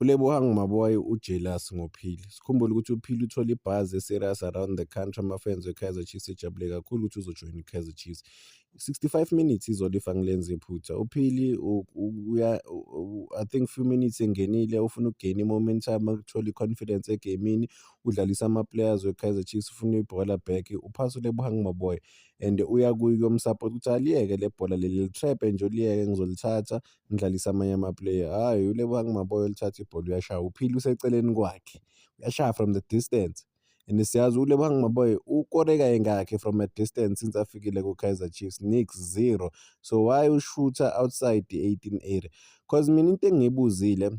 ULebohang Maboe ujealous ngoPhili. Sikhumbule ukuthi uPhili uthole ibhazi eserious around the country amafans weKaizer Chiefs ejabule kakhulu ukuthi uzojoyina iKaizer Chiefs. 65 minutes izolo if angilenzi iphutha. UPhili uya I think few minutes engenile ufuna ukugain i-momentum ukuthola i-confidence egamini udlalisa ama-players weKaizer Chiefs ufuna ibhola back uphasa uLebohang Maboe and uya kuyo umsupport ukuthi aliyeke le bhola leli litrap nje uliyeke ngizolithatha ngidlalisa amanye amaplayer hhayi ulebohang maboya olithatha ibhola uyashaya uphile useceleni kwakhe uyashaya from the distance and siyazi ulebohang maboya ukore kayingakhi from a distance since afikile ku-kaizer chiefs nix zero so why ushutha outside i-18 area cause mina into engiyibuzile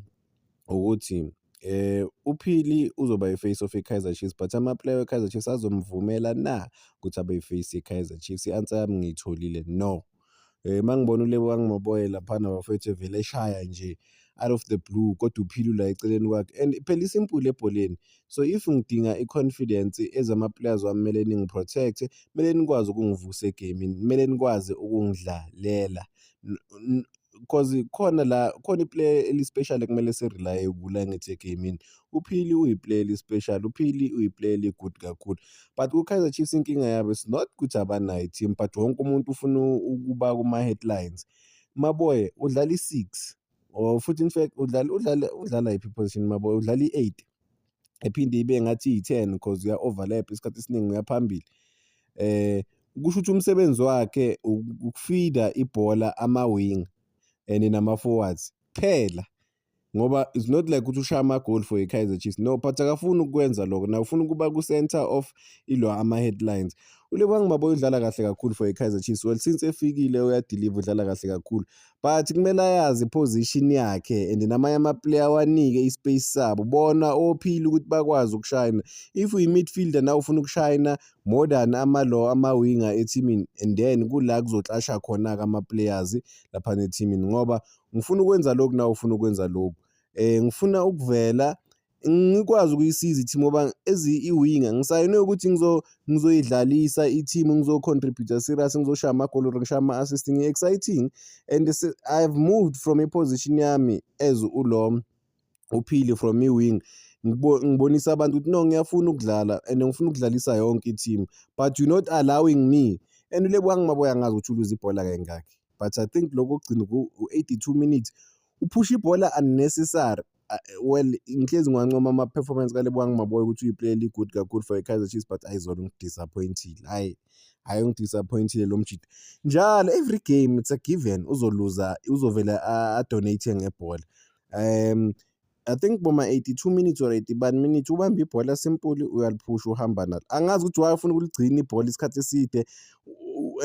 ukuthi eh uphili uzoba yiface of iKaizer Chiefs but amaplayer weKaizer Chiefs azomvumela na ukuthi abe yiface yeKaizer Chiefs i-answer yami ngiyitholile no Eh mangibona uLebo kangimaboye lapha nabafethu evele eshaya nje out of the blue kodwa uphile la eceleni kwakhe and phela isimple ebholeni so if ngidinga i-confidence ezama-players wami kumele ningi-protect kumele nikwazi ukungivusa egamini kumele nikwazi ukungidlalela cause khona la khona iplayer elispecial ekumele sirelaye kula ngithi egamini uphili uyiplayer especially uphili uyiplayer egood kakhulu but kukaizer chiefs inkinga yabo is not ukuthi abanayo team but wonke umuntu ufuna ukuba kuma-headlines maboye udlala i-six or futhi in fact udlala udlala udlala yiphi position maboye udlala i-eight ephinde ibe ngathi iyi-ten because uya-overlap isikhathi esiningi uyaphambili eh kusho ukuthi umsebenzi wakhe ukufida ibhola ama-wing and nama-forwards kuphela ngoba it's not like ukuthi ushaya amagol for ikaizer chiefs no but akafuni ukukwenza lokho naye ufuna ukuba ku-center of ilo ama-headlines ulebang maboy udlala kahle kakhulu for ikaizer chiefs well since efikile uyadiliva udlala kahle kakhulu but kumele ayazi iposition yakhe and namanye amaplayer wanike ispace sabo bona ophile ukuthi bakwazi ukushayina if uyi-midfielder na ufuna ukushayina more than amalo amawinga ethimini and then kula kuzoxasha khona-ke ama-players laphana ethimini ngoba ngifuna ukwenza lokhu nawe ufuna ukwenza lokhu eh ngifuna ukuvela ngikwazi ukuyisiza i-team ngoba as i-winger ngisayinwe ukuthi ngizoyidlalisa i-team ngizo-contributor serious ngizoshaya amagoli or ngishaya ama-assist ngi-exciting and i have moved from iposition yami as ulo uphile from i-wing ngibonisa abantu ukuthi no ngiyafuna ukudlala and ngifuna ukudlalisa yonke i-team but you're not allowing me and ulebuka ngimaboya ngazi ukuthi uluza ibhola kayingakhi but i think lokho kugcina ku-82 minutes uphusha ibhola unnecessary well ngihlezi ngiwancoma ama-performance kalebowa ngimaboya ukuthi uyiplayer eli-good kakhulu for i-kaizer chiefs but ayizona ungidisappointile hhayi hhayi ungidisappointile lo mjita njalo every game it's a given uzoluza uzovele adonate ngebhola um I think boma 82 minutes or 80 bani minutes ubamba ibhola simpuli uyaliphusha uhamba nalo angazi ukuthi why ufuna ukuligcina ibhola isikhathi eside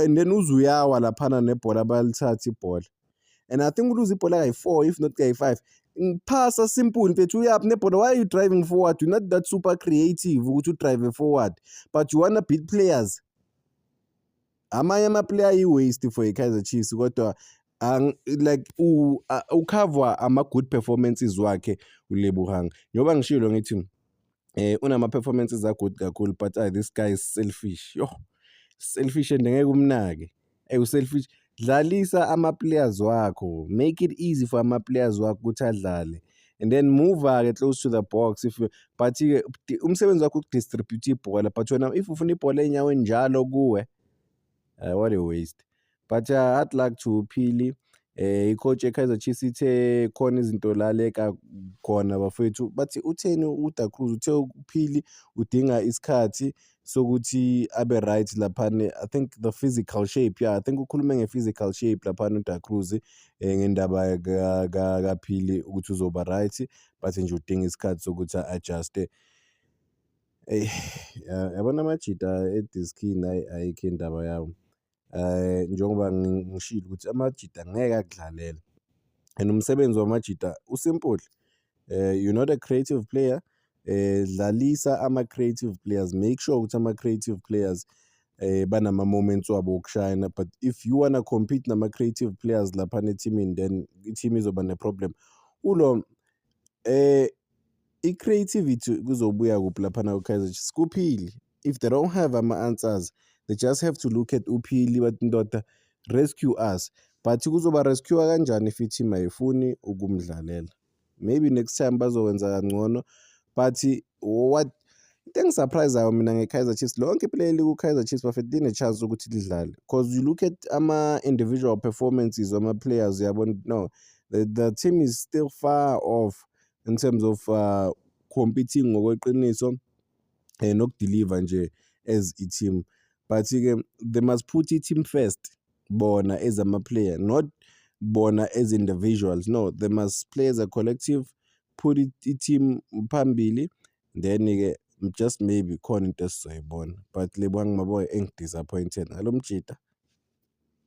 and then uze uyawa laphana nebhola balithatha ibhola and i think uluze ibhola kayi-four if not kayi-five phasa simple mfethu uyaphi nebhola why are you driving forward you're not that super creative ukuthi udrive forward but you wanna beat players amanye amaplayer ayi-waste for i-kaizer chiefs kodwa like ukhavwa ama-good performances wakhe ulebuhang njengoba ngishilo ngithi eh unama-performances agood kakhulu but ay this guy is selfish yoh selfish and ngeke umnake eyi uselfish dlalisa ama-players wakho make it easy for ama-players wakho ukuthi adlale and then move-ke close to the box if but-ke umsebenzi wakho ukudistribute ibhola but wena if ufuna ibhola enyaweni njalo kuwe uh, what a waste but uh, hard luck to uphili eh icoach eKaizer Chiefs ithe khona izinto laleka khona bafethu bathi utheni uDa Cruz uthe uphili udinga isikhathi sokuthi abe right laphana i think the physical shape yeah i think ukhulume nge-physical shape laphana uda cruz um eh, ngendaba kaphili ukuthi uzoba right but nje udinga isikhathi sokuthi a-adjuste eyi yabona amajita ediskini ayikho indaba yawo um njengoba ngishilo ukuthi amajita ngeke akudlalele and umsebenzi wamajita usimple um you're not a creative player um dlalisa ama-creative players make sure ukuthi ama-creative players um banama-moments wabo okushayina but if you wanna compete nama-creative players laphana ethimini then i-team izoba ne-problem ulo um i-creativity kuzobuya kuphi laphana kwi-kaizer chiefs kuphile if they don't have ama-answers they just have to look at uphili bathi ndoda rescue us but kuzoba rescue kanjani if i-team ayifuni ukumdlalela maybe next time bazokwenza kangcono but what into engisurprisayo mina nge-kaizer chiefs lonke iplayer eliku-kaizer chiefs bafethu line-chance ukuthi lidlale because you look at ama-individual performances wama-players uyabona no the, the team is still far off in terms of uh, competing ngokweqiniso eh, nokudeliver nje as i-team but-ke they must put i-team first bona as ama-player not bona as individuals no they must play as a collective put i-team phambili then-ke just maybe khona into esizoyibona but lebwa ngimaboy engidisappointed ngalo mjita